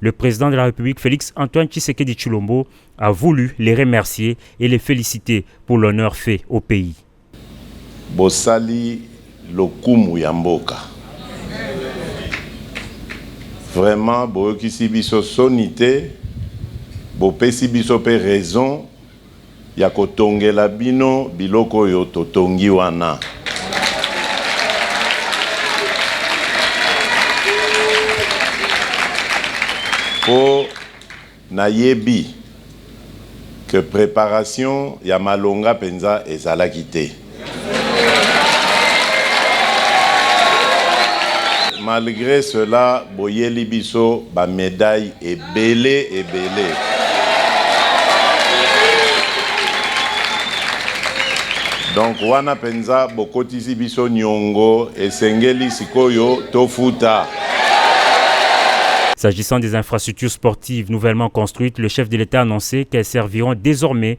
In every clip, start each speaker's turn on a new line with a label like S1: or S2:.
S1: Le président de la République Félix Antoine Tshisekedi Chulombo a voulu les remercier et les féliciter pour l'honneur fait au pays.
S2: Bosali lokumu ya mboka. Vraiment boyokisi biso soni te, bopesi biso pe raison. ya kotongela bino biloko oyo totongi wana. Po nayebi que preparation ya malonga penza ezalaki te. Malgre cela boyeli biso ba medailles ebele ebele. Donc wana penza bokotisi biso niongo esengeli sikoyo tofuta.
S1: S'agissant des infrastructures sportives nouvellement construites, le chef de l'Etat a annoncee qu'elles serviront desormais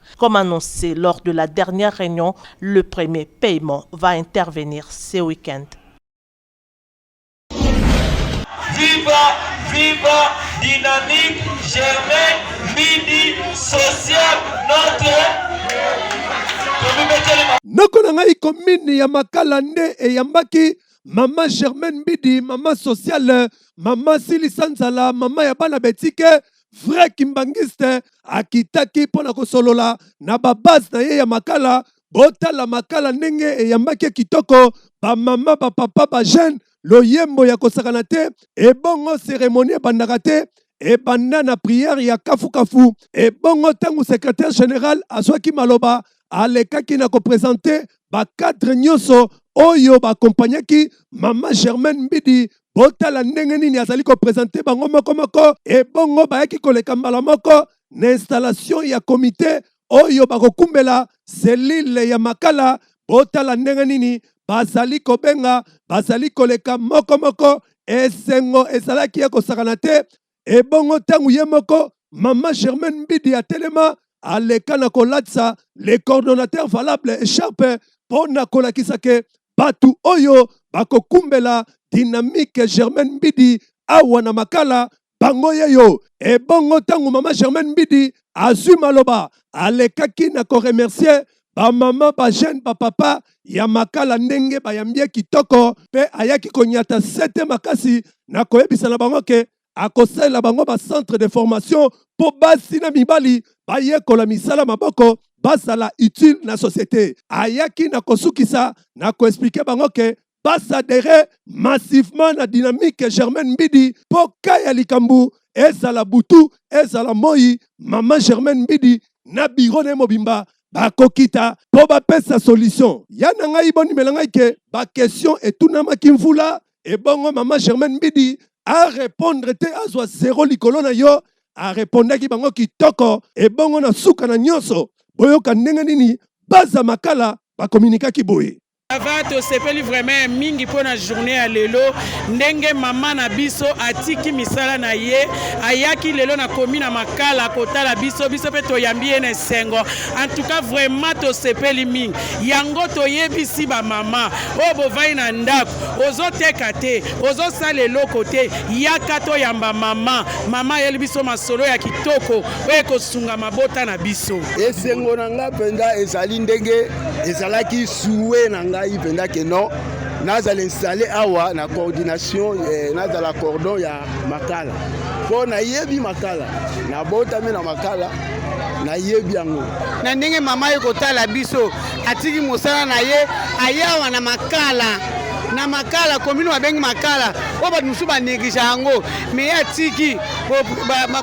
S3: Comme annoncé lors de la dernière reunion, le premier paiement va intervenir ce week-end.
S4: Viva, viva, dynamique, germain, midi, social, notre.
S5: noko na ngai komini ya makala nde eyambaki mama germaine mbidi mama sociale mama silisa nzala mama ya bana betike vrai kimbanguiste akitaki mpo na kosolola na babase na ye ya makala botala makala ndenge eyambaki kitoko bamama bapapa bajeune loyembo ya kosakana te ebongo seremoni ebandaka te ebanda na priere ya kafukafu ebongo ntango secrétaire général azwaki maloba alekaki na kopresente bacadre nyonso oyo baakompagnaki mama germaine mbidi Botala ndenge nini azali ko presenter bango moko moko, ebongo bayaki koleka mbala moko na installation ya comite oyo bakokumbela cellule ya Makala. Botala ndenge nini bazali kobenga, bazali koleka moko moko. Esengo ezalaki ekosakana te, ebongo ntango ye moko mama germaine mbidi atelema aleka na kolatisa le coordonnateur valable echarpe mpo na kolakisa ke bato oyo bakokumbela dynamique germaine mbidi awa na makala bango ye yo ebongo ntango mama germaine mbidi azwi maloba alekaki na koremercie Ba maman, ba jeune, ba papa ya makala ndenge bayambi ye kitoko pe ayaki konyata sete makasi na koyebisa na bango ke akosalela bango ba centre de formation po basi na mibali bayekola misala maboko bazala utile na societe. Ayaki na kosukisa na ko expliquer bango ke ba s'adherer massivement na dynamique Germaine Mbidi mpo ka ya likambo ezala butu ezala moi mama Germaine Mbidi na biro na ye mobimba bakokita mpo bapesa solution ya na ngai bondimela ngai ke bakestion etunamaki mvula ebongo mama Germaine Mbidi arepondre te azwa zero likolo na yo arepondaki bango kitoko ebongo na suka na nyonso boyoka ndenge nini baza makala bakominikaki boye Sava tosepeli
S6: vraiment ya mingi mpo na journée ya lelo ndenge mama na biso atiki misala na ye ayaki lelo na komi na makala kotala biso biso mpe toyambi ye na esengo en tout cas vraiment tosepeli mingi yango toyebisi bamama oyo bovai na ndako ozoteka te ozosala eloko te yaka toyamba mama mama ayeli biso masolo ya kitoko oyo ekosunga mabota na biso esengo na ngai
S7: mpenza ezali ndenge ezalaki souhait na ngai mpenza ke non nazala installe awa na coordination eh, nazala cordon ya makala mpo nayebi makala nabotami na makala nayebi yango na ndenge mama ye
S6: kotala biso atiki mosala na ye aye awa na makala na makala komino babengi makala oyo bato mosusu banegligea yango me ye atiki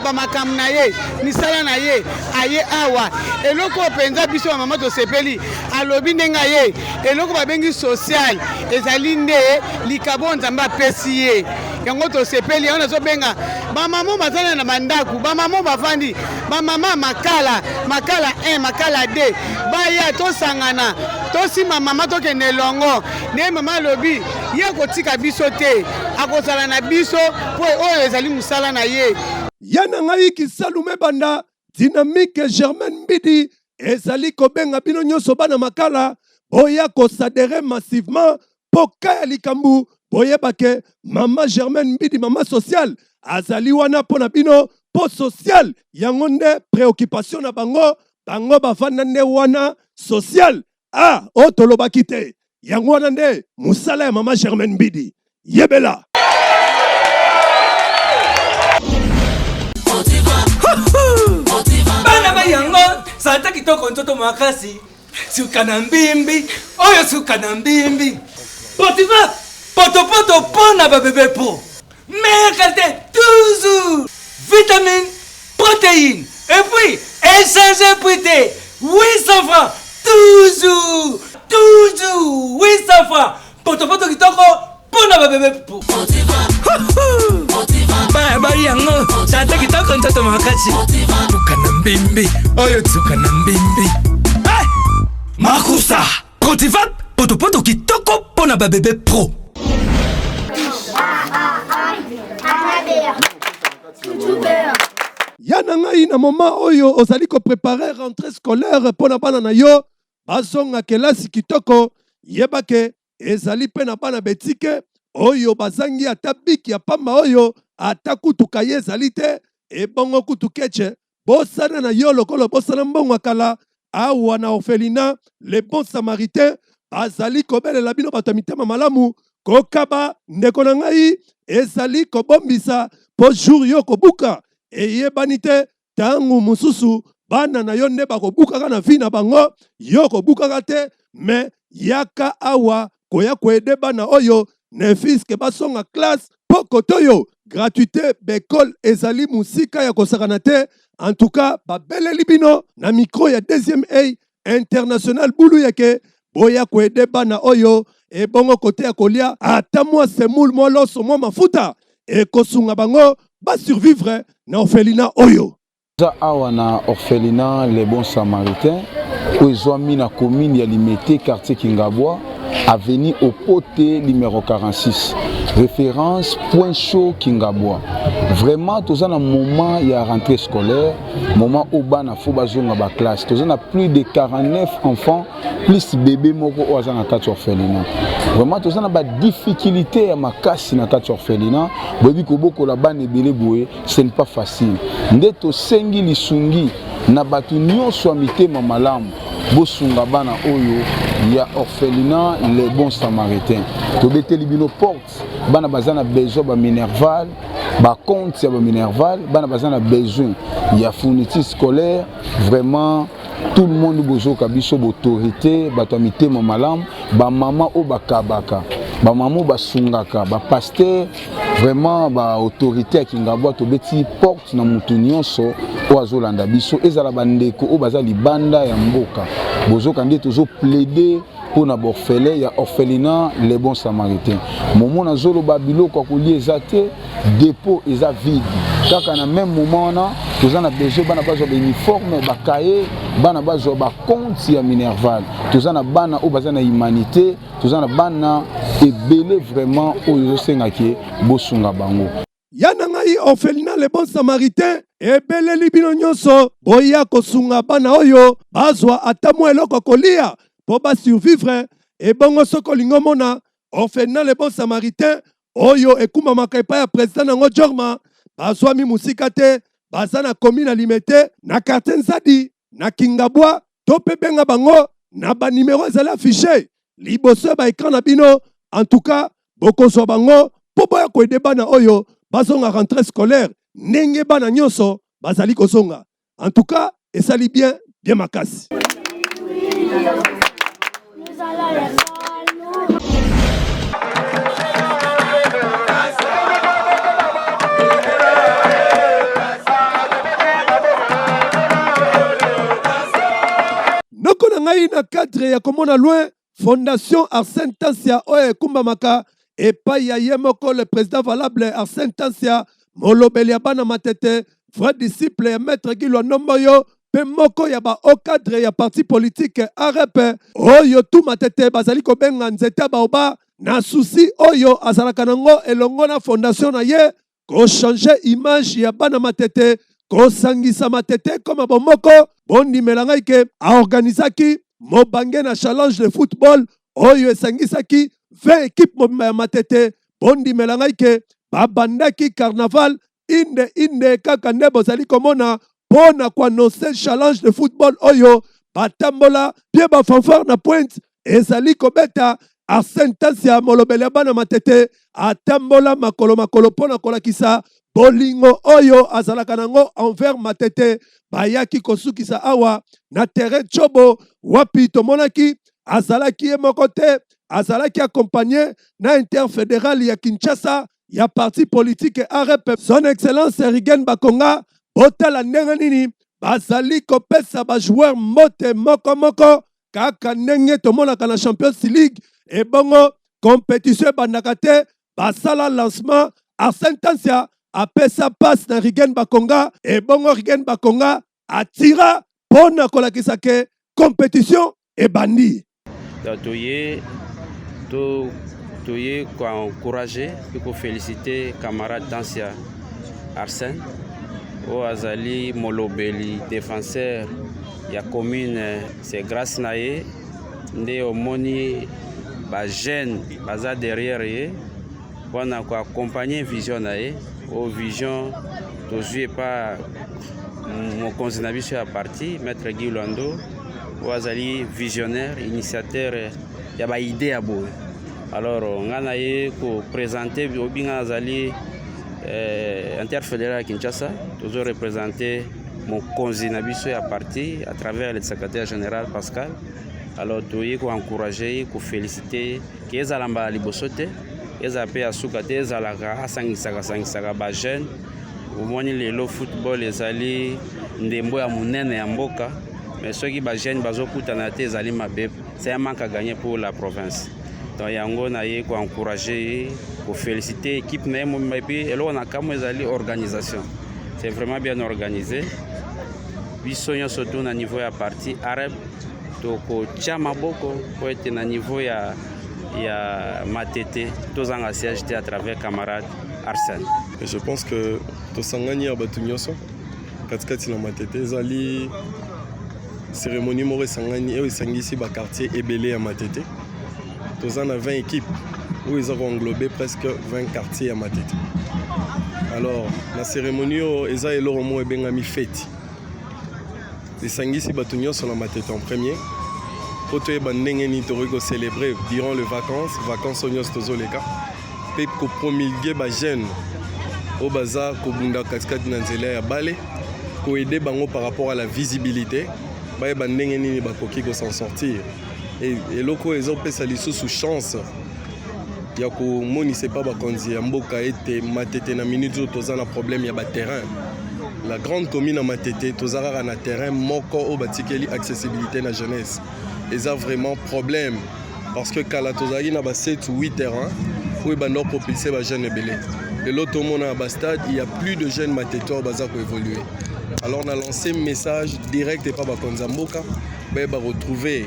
S6: bamakambo na ye misala na ye aye awa eloko oyo mpenza biso ya mama tosepeli alobi ndenge aye eloko babengi social ezali nde likabo nzambe apesi ye yango tosepeli yango nazobenga bamama bazali na bandako bamama bafandi bamama makala makala 1 makala 2 baya tosangana tosima mama tokende elongo nde mama alobi ye akotika biso te akozala na biso mpo oyo ezali mosala na ye ya na ngai
S5: kisalume banda dynamique germaine mbidi ezali kobenga bino nyonso bana makala boya kosadere massivement mpo ka ya likambo boyeba ke mama germaine mbidi mama sociale azali wana mpo na bino mpo sociale yango nde préoccupation na bango bango bavanda nde wana sociale Ah, oh tolobaki te. Yango wana nde mosala ya mama Germaine Bidi. Yebela.
S8: Bana ba yango santa kitoko ntoto makasi suka na mbimbi oyo suka na mbimbi potifa potopoto mpo na babebe po Meilleure qualité toujours Vitamine, protéine et puis échanger prix te 800 francs toujours toujours 800 francs potopoto kitoko mpo na babebe pupu bayabali yango tata kitoko ntoto makasi tuka na mbembe oyo tuka na mbembe makusa Protivap potopoto kitoko mpo na babebe pro.
S5: ya na ngai na moma oyo ozali koprepare rentrée scolaire mpo na bana na yo bazonga kelasi kitoko yeba ke ezali mpe na bana betike oyo bazangi ata biki ya pamba oyo ata kutu kaye ezali te ebongo kutu kece bosana na yo lokola obosana mbongo ya kala awa na orphelina le bon samaritain azali kobelela bino bato ya mitema malamu kokaba ndeko na ngai ezali kobombisa mpo jour yo kobuka eyebani te ntango mosusu bana na yo nde bakobukaka na vi na bango yo kobukaka te me yaka awa koya koede bana oyo nefiske basonga classe mpo koto yo gratuite bekole ezali mosika ya kosakana te en tout cas babeleli bino na micro ya deuxième ey international bulu yeke boya koede bana oyo ebongo kote ya kolia ata mwa semoule mwa loso mwa mafuta ekosunga bango basurvivre na orphelina oyo Toza awa na
S9: orphelinat Les Bons Samaritains oyo ezwami na commune ya Limete, quartier Kingabwa, avenue Okote numero 46. Reference point chaud Kingabwa. Vraiment toza na moment ya rentrée scolaire, moment oyo bana faut bazonga ba classe. Toza na plus de 49 enfants plus bebe moko oyo aza na kati ya orphelinat. Vraiment toza na ba difficultes ya makasi na kati ya orphelinat, boyebi kobokola bana ebele boye. Ce n'est pas facile. Nde tosengi lisungi na bato nyonso ya mitema malamu bosunga bana oyo ya orphelinat les bons samaritains tobeteli bino porte bana baza na besoin ba minerval ba compte ya ba minerval bana baza na besoin ya fourniture scolaire vraiment tout le monde bozoka biso bautorité bato ya mitema malamu bamama oyo bakabaka bamama oyo basungaka bapaster vraiment ba autorité ya kingabwa tobeti porte na motu nyonso oyo azolanda biso ezala bandeko oyo baza libanda ya mboka bozoka nde tozo plaide mpo na borfele ya orphelina le bon samaritain momo nazoloba biloko ya kolia eza te depot eza vide kaka na meme moment wana toza na besoin bana bazwa bauniforme bakaye bana bazwa bakonti ya minerval toza na bana oyo baza na humanité toza na bana ebele vraiment oyo ezosenga ke bosunga bango ya na ngai
S5: orphelina le bon samaritain ebeleli bino nyonso boya kosunga bana oyo bazwa ata mwa eloko kolia mpo basurvivre ebongo soki olingi omona orphelina le bon samaritain oyo ekumamaka epai ya president na yango jorma bazwami mosika te baza na komi na limete na quartier nzadi na kingabwa to mpe benga bango na banimero ezali affiche liboso ya baekran na bino en tout cas bokozwa bango mpo boya koede bana oyo bazonga rentrée scolaire ndenge bana nyonso bazali kozonga en tout cas esali bien bien makasi ngai na cadre ya komona loin fondation arsène tansia oyo ekumbamaka epai ya ye moko le président valable Arsène Tansia, molobeli ya bana Matete, vrai disciple ya maître Guy Lwandomboyo mpe moko ya ba hauts cadres ya parti politique AREP oyo tout Matete bazali kobenga nzete ya baoba na souci oyo azalaka na yango elongo na fondation na ye kochange image ya bana matete kosangisa matete ekoma bomoko bondimela ngai ke aorganizaki mobange na challenge de football oyo esangisaki 20 ekipe mobimba ya matete bondimela ngai ke babandaki carnaval inde inde kaka nde bozali komona mpo na koannonce challenge de football oyo batambola bie bafanfare na pointe ezali kobeta Arsène Tasia molobeli ya bana Matete atambola makolo makolo mpo na kolakisa bolingo oyo azalaka nango envers Matete. Bayaki kosukisa awa na terrain Tshobo wapi tomonaki azalaki ye moko te, azalaki accompagne na interfederal ya Kinshasa ya parti politique AREP. Son Excellence Rigen Bakonga, botala ndenge nini bazali kopesa ba joueurs mbote moko moko kaka ndenge tomonaka na champions league ebongo competition ebandaka te basala lancement arsène tansia apesa passe na rigen bakonga ebongo rigen bakonga atira mpo na kolakisa ke competition ebandi toye
S10: to toye koencourage mpe kofelicite camarade tansia arsène oyo azali molobeli défenseur ya commune c'est grâce na ye nde omoni ba jeunes baza derrière ye mpona ko accompagner vision na ye o vision tozwi epa mokonzi na biso ya parti maître Guy Lwando oyo azali visionnaire initiateur ya ba idée ya boye alors ngai na ye ko présenter obinga nazali euh, interfédéral ya Kinshasa tozo représenter mokonzi na biso ya parti à travers le secrétaire général Pascal alors toyei koencourage ye kofélicite ke ezala mbala liboso te ezala mpe ya suka te ezalaka asangisaka sangisaka bajeune omoni lelo football ezali ndembo ya monene ya mboka mais soki bajeune bazokutana te ezali mabe c'est un manque à gagner pour la province donc yango naye koencourage ye kofélicite équipe na ye mobimba epuis eloko na kamwa ezali organisation C'est vraiment bien organisé. Biso nyonso to na niveau ya parti arabe tokotya maboko mpo ete na niveau ya ya matete tozanga siège te à travers camarade Arsène. Et je pense que
S11: tosangani ya bato nyonso katikati na matete ezali cérémonie moko esangani oyo esangisi bakartier ebele ya matete toza na 20 équipe oyo eza koenglobe presque 20 quartier ya matete alors na cérémonie oyo eza eloko moko ebengami feti esangisi bato nyonso na matete en premier mpo toyeba ndenge nini tokoki kocelebre durant le vacances vacances oyo nyonso tozoleka mpe kopromulgue bajeune oyo baza kobunda katikati na nzela ya bale koede bango par rapport à la visibilité bayeba ndenge nini bakoki kosan sortir eloko oyo ezopesa lisusu chance ya komonisa epa bakonzi ya mboka ete matete na minute oyo toza na problème ya baterrain la grande commune ya matete toza kaka na terrain moko oyo batikeli accessibilité na jeunesse eza vraiment problème parce que kala tozalaki na ba 7 ou 8 terrain oyo ebanda kopropulse bajeune ebele lelo tomona na bastade il y a plus de jeunes matete oyo baza koévolue alors na lance message direct epa bakonzi ya mboka bayeba retrouver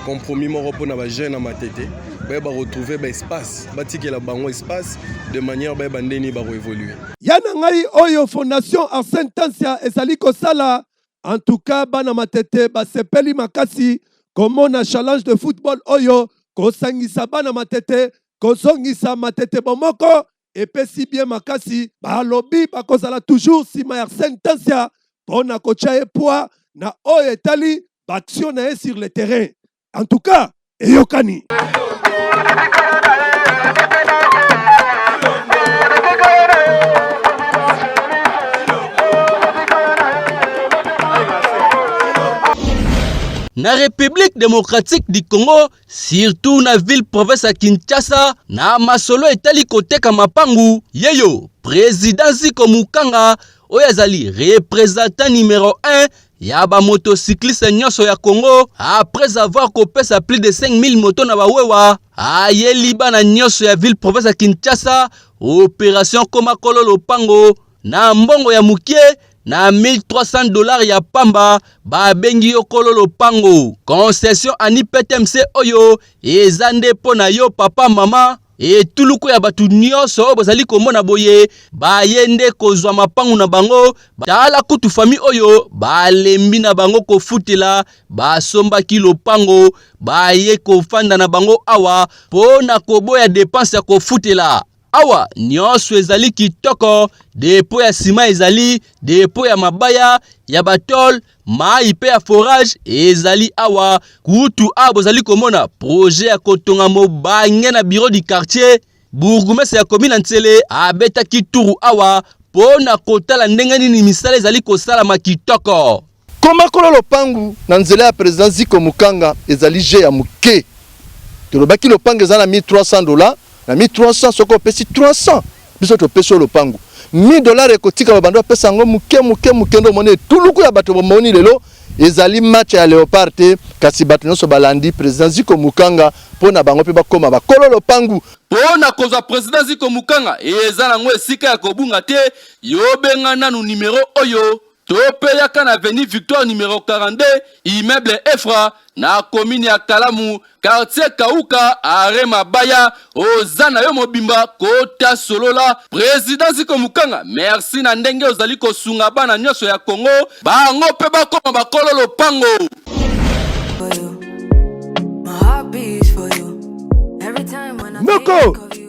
S11: compromis moko mpona ba jeune ya matete bayeba retrouver ba espace batikela bango espace de manière bayeba nde nini bakoevolue ya na ngai
S5: oyo fondation arsène tansia ezali kosala en tout cas bana matete basepeli makasi komona challenge de football oyo kosangisa bana matete kozongisa matete bomoko epesi bie makasi balobi bakozala toujours nsima ya arsène tansia mpo na kotya ye poids na oyo etali baaction na ye sur le terrain en tout cas eyokani
S12: na République démocratique du Congo surtout na ville province ya Kinshasa na masolo etali koteka mapangu yeyo president Ziko Mukanga oyo azali représentant numéro 1 ya ba motocycliste nyonso ya Congo après avoir kopesa plus de 5000 moto na bawewa ayeli bana nyonso ya ville province ya Kinshasa operation koma kolo lopango Na mbongo ya mukie na 1300 dollars ya pamba babengi yo kolo lopango. Concession ani PTMC oyo eza nde mpo na yo papa mama etuluku ya bato nyonso oyo bozali komona boye baye nde kozwa mapangu na bango tala kutu fami oyo balembi na bango kofutela basombaki lopango baye kofanda na bango awa mpo na koboya depanse ya kofutela Awa nionso ezali kitoko, depo ya sima ezali, depo ya mabaya ya batole, mayi pe ya forage ezali awa. Kutu awa bozali komona projet ya kotonga mobange na bureau du quartier. Bourgmestre ya commune ya Nsele abetaki turu awa po na kotala ndenge nini misala ezali kosalama kitoko. Komakola
S13: lopangu na nzela ya president Ziko Mukanga ezali jeu ya muke. Tolobaki lopangu eza na 1300 dollars, na 1300 soki opesi 300 biso topesi yo lopangu. 1000 dollars ekotika babanda opesa yango muke muke muke nde omoni etuluku ya bato bomoni lelo ezali match ya Leopard te kasi bato nyonso balandi president Ziko Mukanga mpo na bango mpe bakoma bakolo lopangu. Mpo na kozwa
S12: president Ziko Mukanga eza nango esika ya kobunga te, yo benga nanu numero oyo. Tope yaka na avenue Victoire numero 42 immeuble Efra na commune ya Kalamu quartier Kauka are Mabaya oza na yo mobimba kota solola president Ziko Mukanga merci na ndenge ozali kosunga bana nyonso ya Congo bango mpe bakoma bakolo lopango
S5: Moko!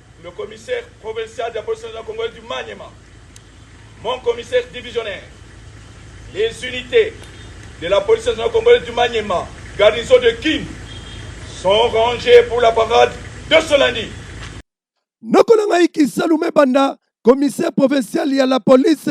S14: Le commissaire provincial de la police nationale congolaise du Maniema, mon commissaire divisionnaire, les unités de la police nationale congolaise du Maniema, garnison de Kin, sont rangées pour la parade de ce lundi. noko
S5: na ngai kisalume banda commissaire provincial ya la police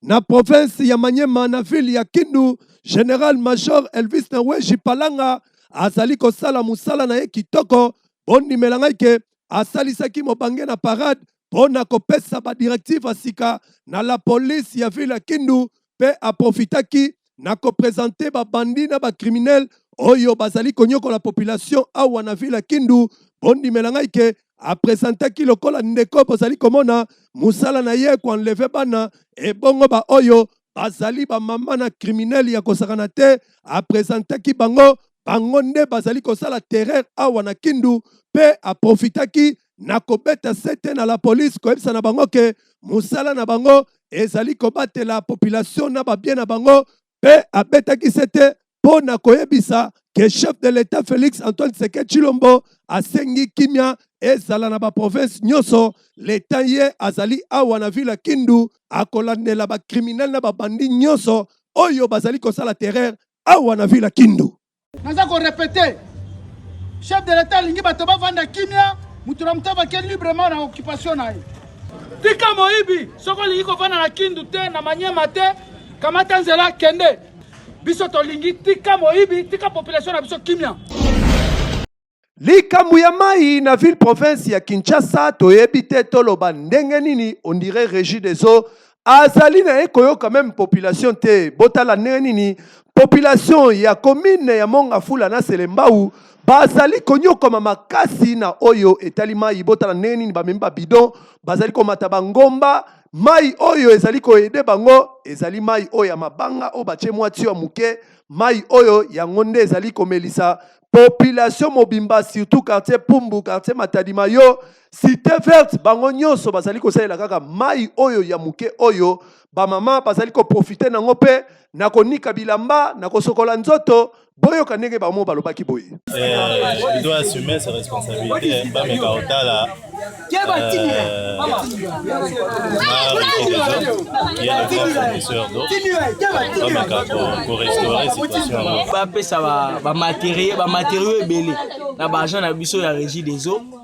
S5: na province ya manyema na ville ya kindu general major elvis naweji palanga azali kosala mosala na ye kitoko bondimela ngai ke asalisaki mobange na parade mpo na kopesa badirektive ya sika na la police ya ville ya Kindu mpe aprofitaki na kopresente babandi na bakriminele oyo bazali konyokola population awa na ville ya Kindu. Bondimela ngai ke apresentaki lokola ndeko bozali komona mosala na ye koenleve bana ebongo baoyo bazali ba mama na criminel ya kosakana te apresentaki bango bango nde bazali kosala terreur awa na kindu mpe aprofitaki na kobeta sete na la police koyebisa na bango ke mosala na bango ezali kobatela population na babie na bango mpe abetaki sete mpo na koyebisa ke chef de l'etat Felix Antoine Tshisekedi Tshilombo asengi kimya ezala na baprovince nyonso. Leta ye azali awa na ville ya Kindu akolandela bakriminele na babandi nyonso oyo bazali kosala terreur awa na ville ya Kindu. Naza ko repeter,
S6: chef de l'etat alingi bato bavanda kimya, moto na moto avake librement na occupation na ye. Tika moyibi, soki olingi kovanda na Kindu te, na Maniema te, kamata nzela kende. biso tolingi tika moyibi tika population na biso kimia likambo
S5: ya mai na ville province ya kinshasa toyebi te toloba ndenge nini ondire régie des eaux azali na ye koyoka meme population te botala ndenge nini population ya commune ya mongafula na selembau bazali konyokoma makasi na oyo etali mai botala ndenge nini bamemi babidon bazali komata bangomba Mai oyo ezali koede bango ezali mai oyo ya mabanga oyo batie mwa tio ya moke. Mai oyo yango nde ezali komelisa population mobimba surtout quartier Pumbu, quartier Matadi Mayo, Cite Verte bango nyonso bazali kosalela kaka mai oyo ya moke oyo bamama bazali koprofite nango mpe na konika bilamba, na kosokola nzoto boyoka ndenge bango balobaki boye eh, doit
S15: assumer ses responsabilités bameka otala bapesa
S16: bamateriel bamateriau ebele na baagent na biso ya régie des eaux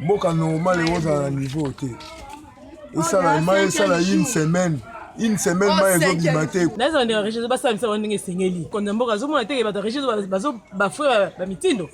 S17: mboka normal ekozala na niveau te esala mai esala une semaine une semaine mai ezobima te naza ndenge regie basala
S18: misala ndenge esengeli konza mboka azomona te bato regie bafre bamitindo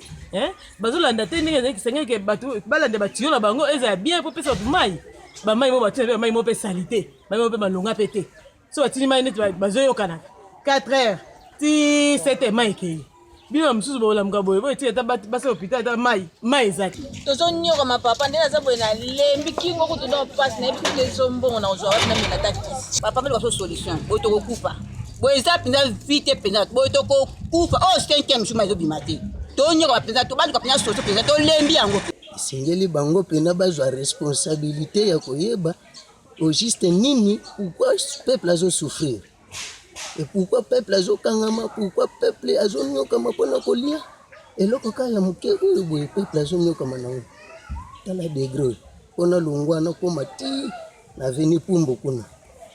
S18: bazolanda te ndenge ezalaki esengeli ke bato balanda batiyo na bango ezala bien mpo pesa bato mai bamai mo bato na mpe bamai mo mpe salite mai mo mpe malonga mpe te so batindi mai neti bazoyokana 4 heures ti 7 heures mai ekei bino na mosusu bolamuka boye boye ti ata basi lopita ata mai mai eza te tozonyoka mapapa
S19: nde naza boye nalembi kingo kutu nda mpasi nayebi kutu ezombongo na kozwa wapi namela ata kisi papa mpe libaso solution oyo tokokufa boye eza mpenza vi te mpenza boye tokokufa oyo cinquième jour ma ezobima te tonyoka mpenza tobaluka mpenza soso mpenza tolembi yango esengeli bango
S1: mpenza bazwa responsabilité ya koyeba Au juste nini pourquoi peuple azo souffrir et pourquoi peuple azo kangama pourquoi peuple azo nyokama pona kolia eloko kaka ya moke oyo boye peuple azo nyokama nango tala degre oyo pona longwa nakoma ti na veni pumbo kuna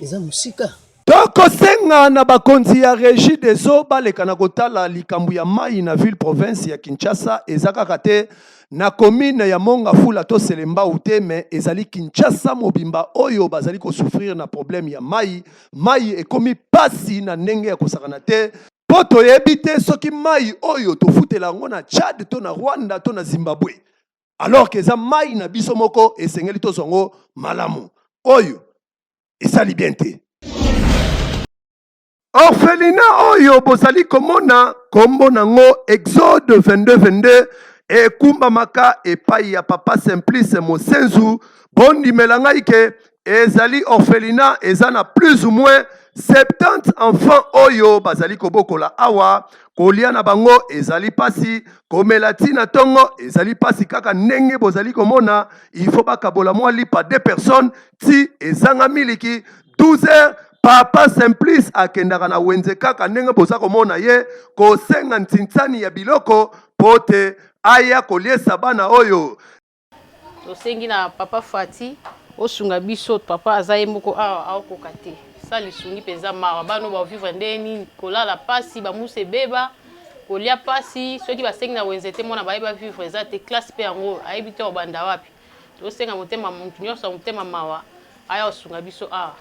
S1: eza mosika tokosenga
S5: na bakonzi ya regie des eaux baleka na kotala likambo ya mai na ville province ya kinshasa eza kaka te na commune ya mongafula to selembau te me ezali kinshasa mobimba oyo bazali kosouffrir na problème ya mai mai ekomi mpasi na ndenge ya kosakana te mpo toyebi te soki mai oyo tofutela yango na tchad to na rwanda to na zimbabwe alors ke eza mai na biso moko esengeli tozwa yango malamu oyo esali bien te orphelina oyo bozali komona kombo nango exode 2222 ekumbamaka epai ya papa simplice mosenzu bondimela ngai ke ezali orphelina eza na plus ou moins 70 enfants oyo bazali kobokola awa kolia na bango ezali mpasi komela ti na ntongo ezali mpasi kaka ndenge bozali komona il faut bakabola mwa lipa de personnes ti ezanga miliki 12 heures papa simplice akendaka na wenze kaka ndenge boza komona ye kosenga ntinsani ya biloko mpo te aya koliesa bana oyo
S2: tosengi na papa fati osunga biso papa aza ye moko awa aokoka te sa lisungi mpenza mawa bana oyo baovivre ndenge nini kolala mpasi bamusa ebeba kolia mpasi soki basengi na wenze te mwana baye bavivre eza te classe mpe yango ayebi te obanda wapi Tosenga motema mutu nyonso ya motema mawa aya kosunga biso awa.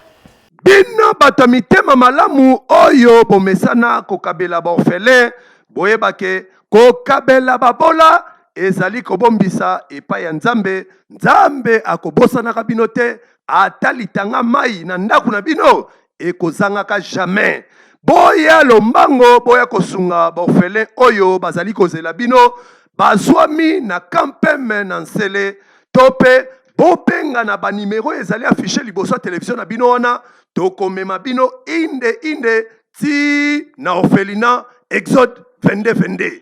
S2: Bino
S5: bato ya mitema malamu oyo bomesana kokabela baorfele, boyeba ke kokabela babola ezali kobombisa epai ya Nzambe. Nzambe akobosanaka bino te, ata litanga mayi na ndako na bino ekozangaka jamais boya lombango boya kosunga baofele oyo bazali kozela bino bazwami na kampeme na nsele to mpe bobenga na banimero ezali afishe liboso ya televizio na bino wana tokomema bino inde inde ti na ofelina exode 22 22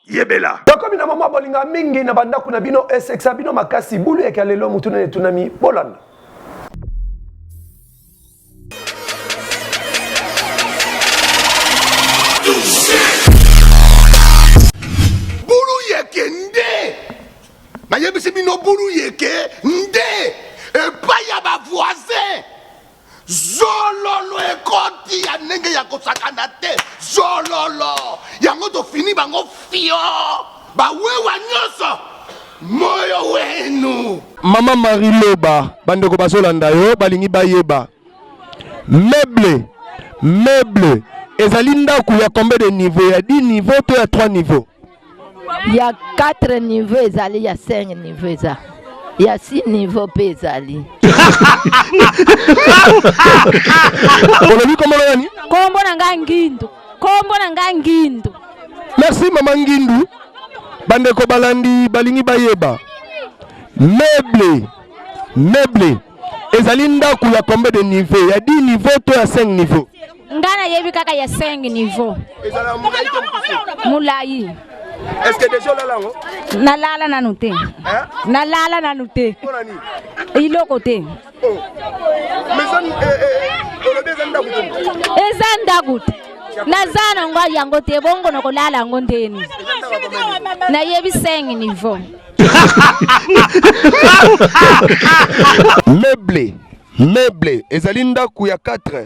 S5: yebela tokomi na mama bolinga mingi na bandako na bino esekisa bino makasi bulu yaka lelo motu nene etunami bolanda
S7: bulu yeke nde nayebisi bino bulu yeke nde epai ya bavoisin zololo ekoti ya ndenge ya kosakana te zololo yango tofini bango fio bawewa nyonso moyo wenu mama marie
S5: loba bandeko bazolanda yo balingi bayeba meuble meuble ezali ndako ya combien de niveau ya 10 niveau to ya 3 niveau ya
S20: 4 niveau ezali ya 5 niveau eza ya 6 niveau mpe ezali
S5: olobi kombo na nani kombo na ngai
S20: ngindu kombo na ngai ngindu merci mama
S5: ngindu bandeko balandi balingi bayeba meuble meuble ezali ndako ya combien de niveau ya 10 niveau to ya 5 niveau Nga na yebi
S20: kaka ya 5 niveau. Ezala mulayi to mukuse. Mulayi. Est-ce que déjà
S5: olala yango? Nalala nanu
S20: te. Hein? Nalala nanu te. Pona nini? Iloko te. Oh. Mais ça eh eh olobi eza ndaku te. Eza ndaku te. naza na ngo yango te bongo nakolala yango ndeni nayebi 5 niveau
S5: meuble meuble ezali ndako ya 4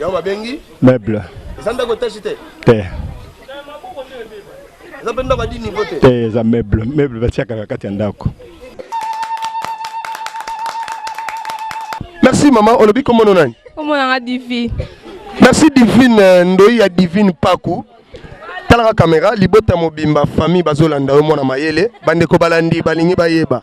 S21: Yango babengi
S5: meuble. Eza
S21: ndako etashi
S5: te? Te. Eza mpe ndako ya dini niveau te? Te, eza meuble.
S21: Meuble batiaka na kati ya ndako.
S5: Merci
S22: maman, olobi
S5: kombo no nani? Kombo
S22: na nga Divine.
S17: Merci Divine euh, Ndoyi ya Divine Paku. Talaka kamera libota mobimba famille bazolanda yo mwana mayele bandeko balandi balingi bayeba.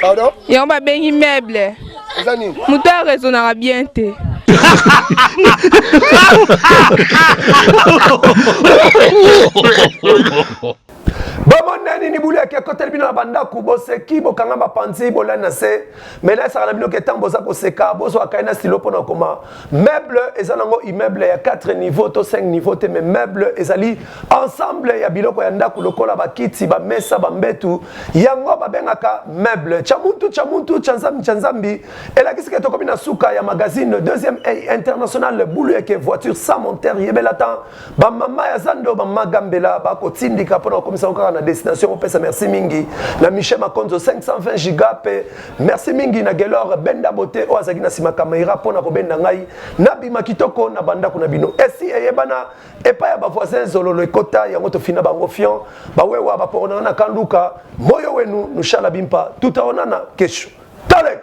S23: pardon yango
S17: babengi
S23: meuble eza nini moto ya raisonnaka bien te
S5: bomona nini bulu yaki ekoteli bino na bandako boseki bokanga mapanzi bolani na se mena esaka na bino ke ntango boza koseka bozwaka ye na silo mpo na koma Meuble eza nango immeuble ya 4 niveau to 5 niveau te mais meuble ezali ensemble ya biloko ya ndako lokola bakiti bamesa bambetu yango babengaka meuble cha muntu cha muntu cha nzambi cha nzambi elakisi ke tokomi na suka ya magazine deuxième international bulu eke voiture sans monteur yebela temps Ba mama ya zando, ba mama gambela ba ko tindika pona komisa ko kaka na destination ko pesa merci mingi na Michel Makonzo 520 giga pe merci mingi na Gelor Benda Bote o azaki na sima kamera pona ko benda ngai na bima kitoko na banda kuna bino esi eyebana epa ya ba voisins zololo ekota yango to fina bango fion ba wewa ba porona na kanduka moyo wenu nushala bimpa tutaonana kesho talek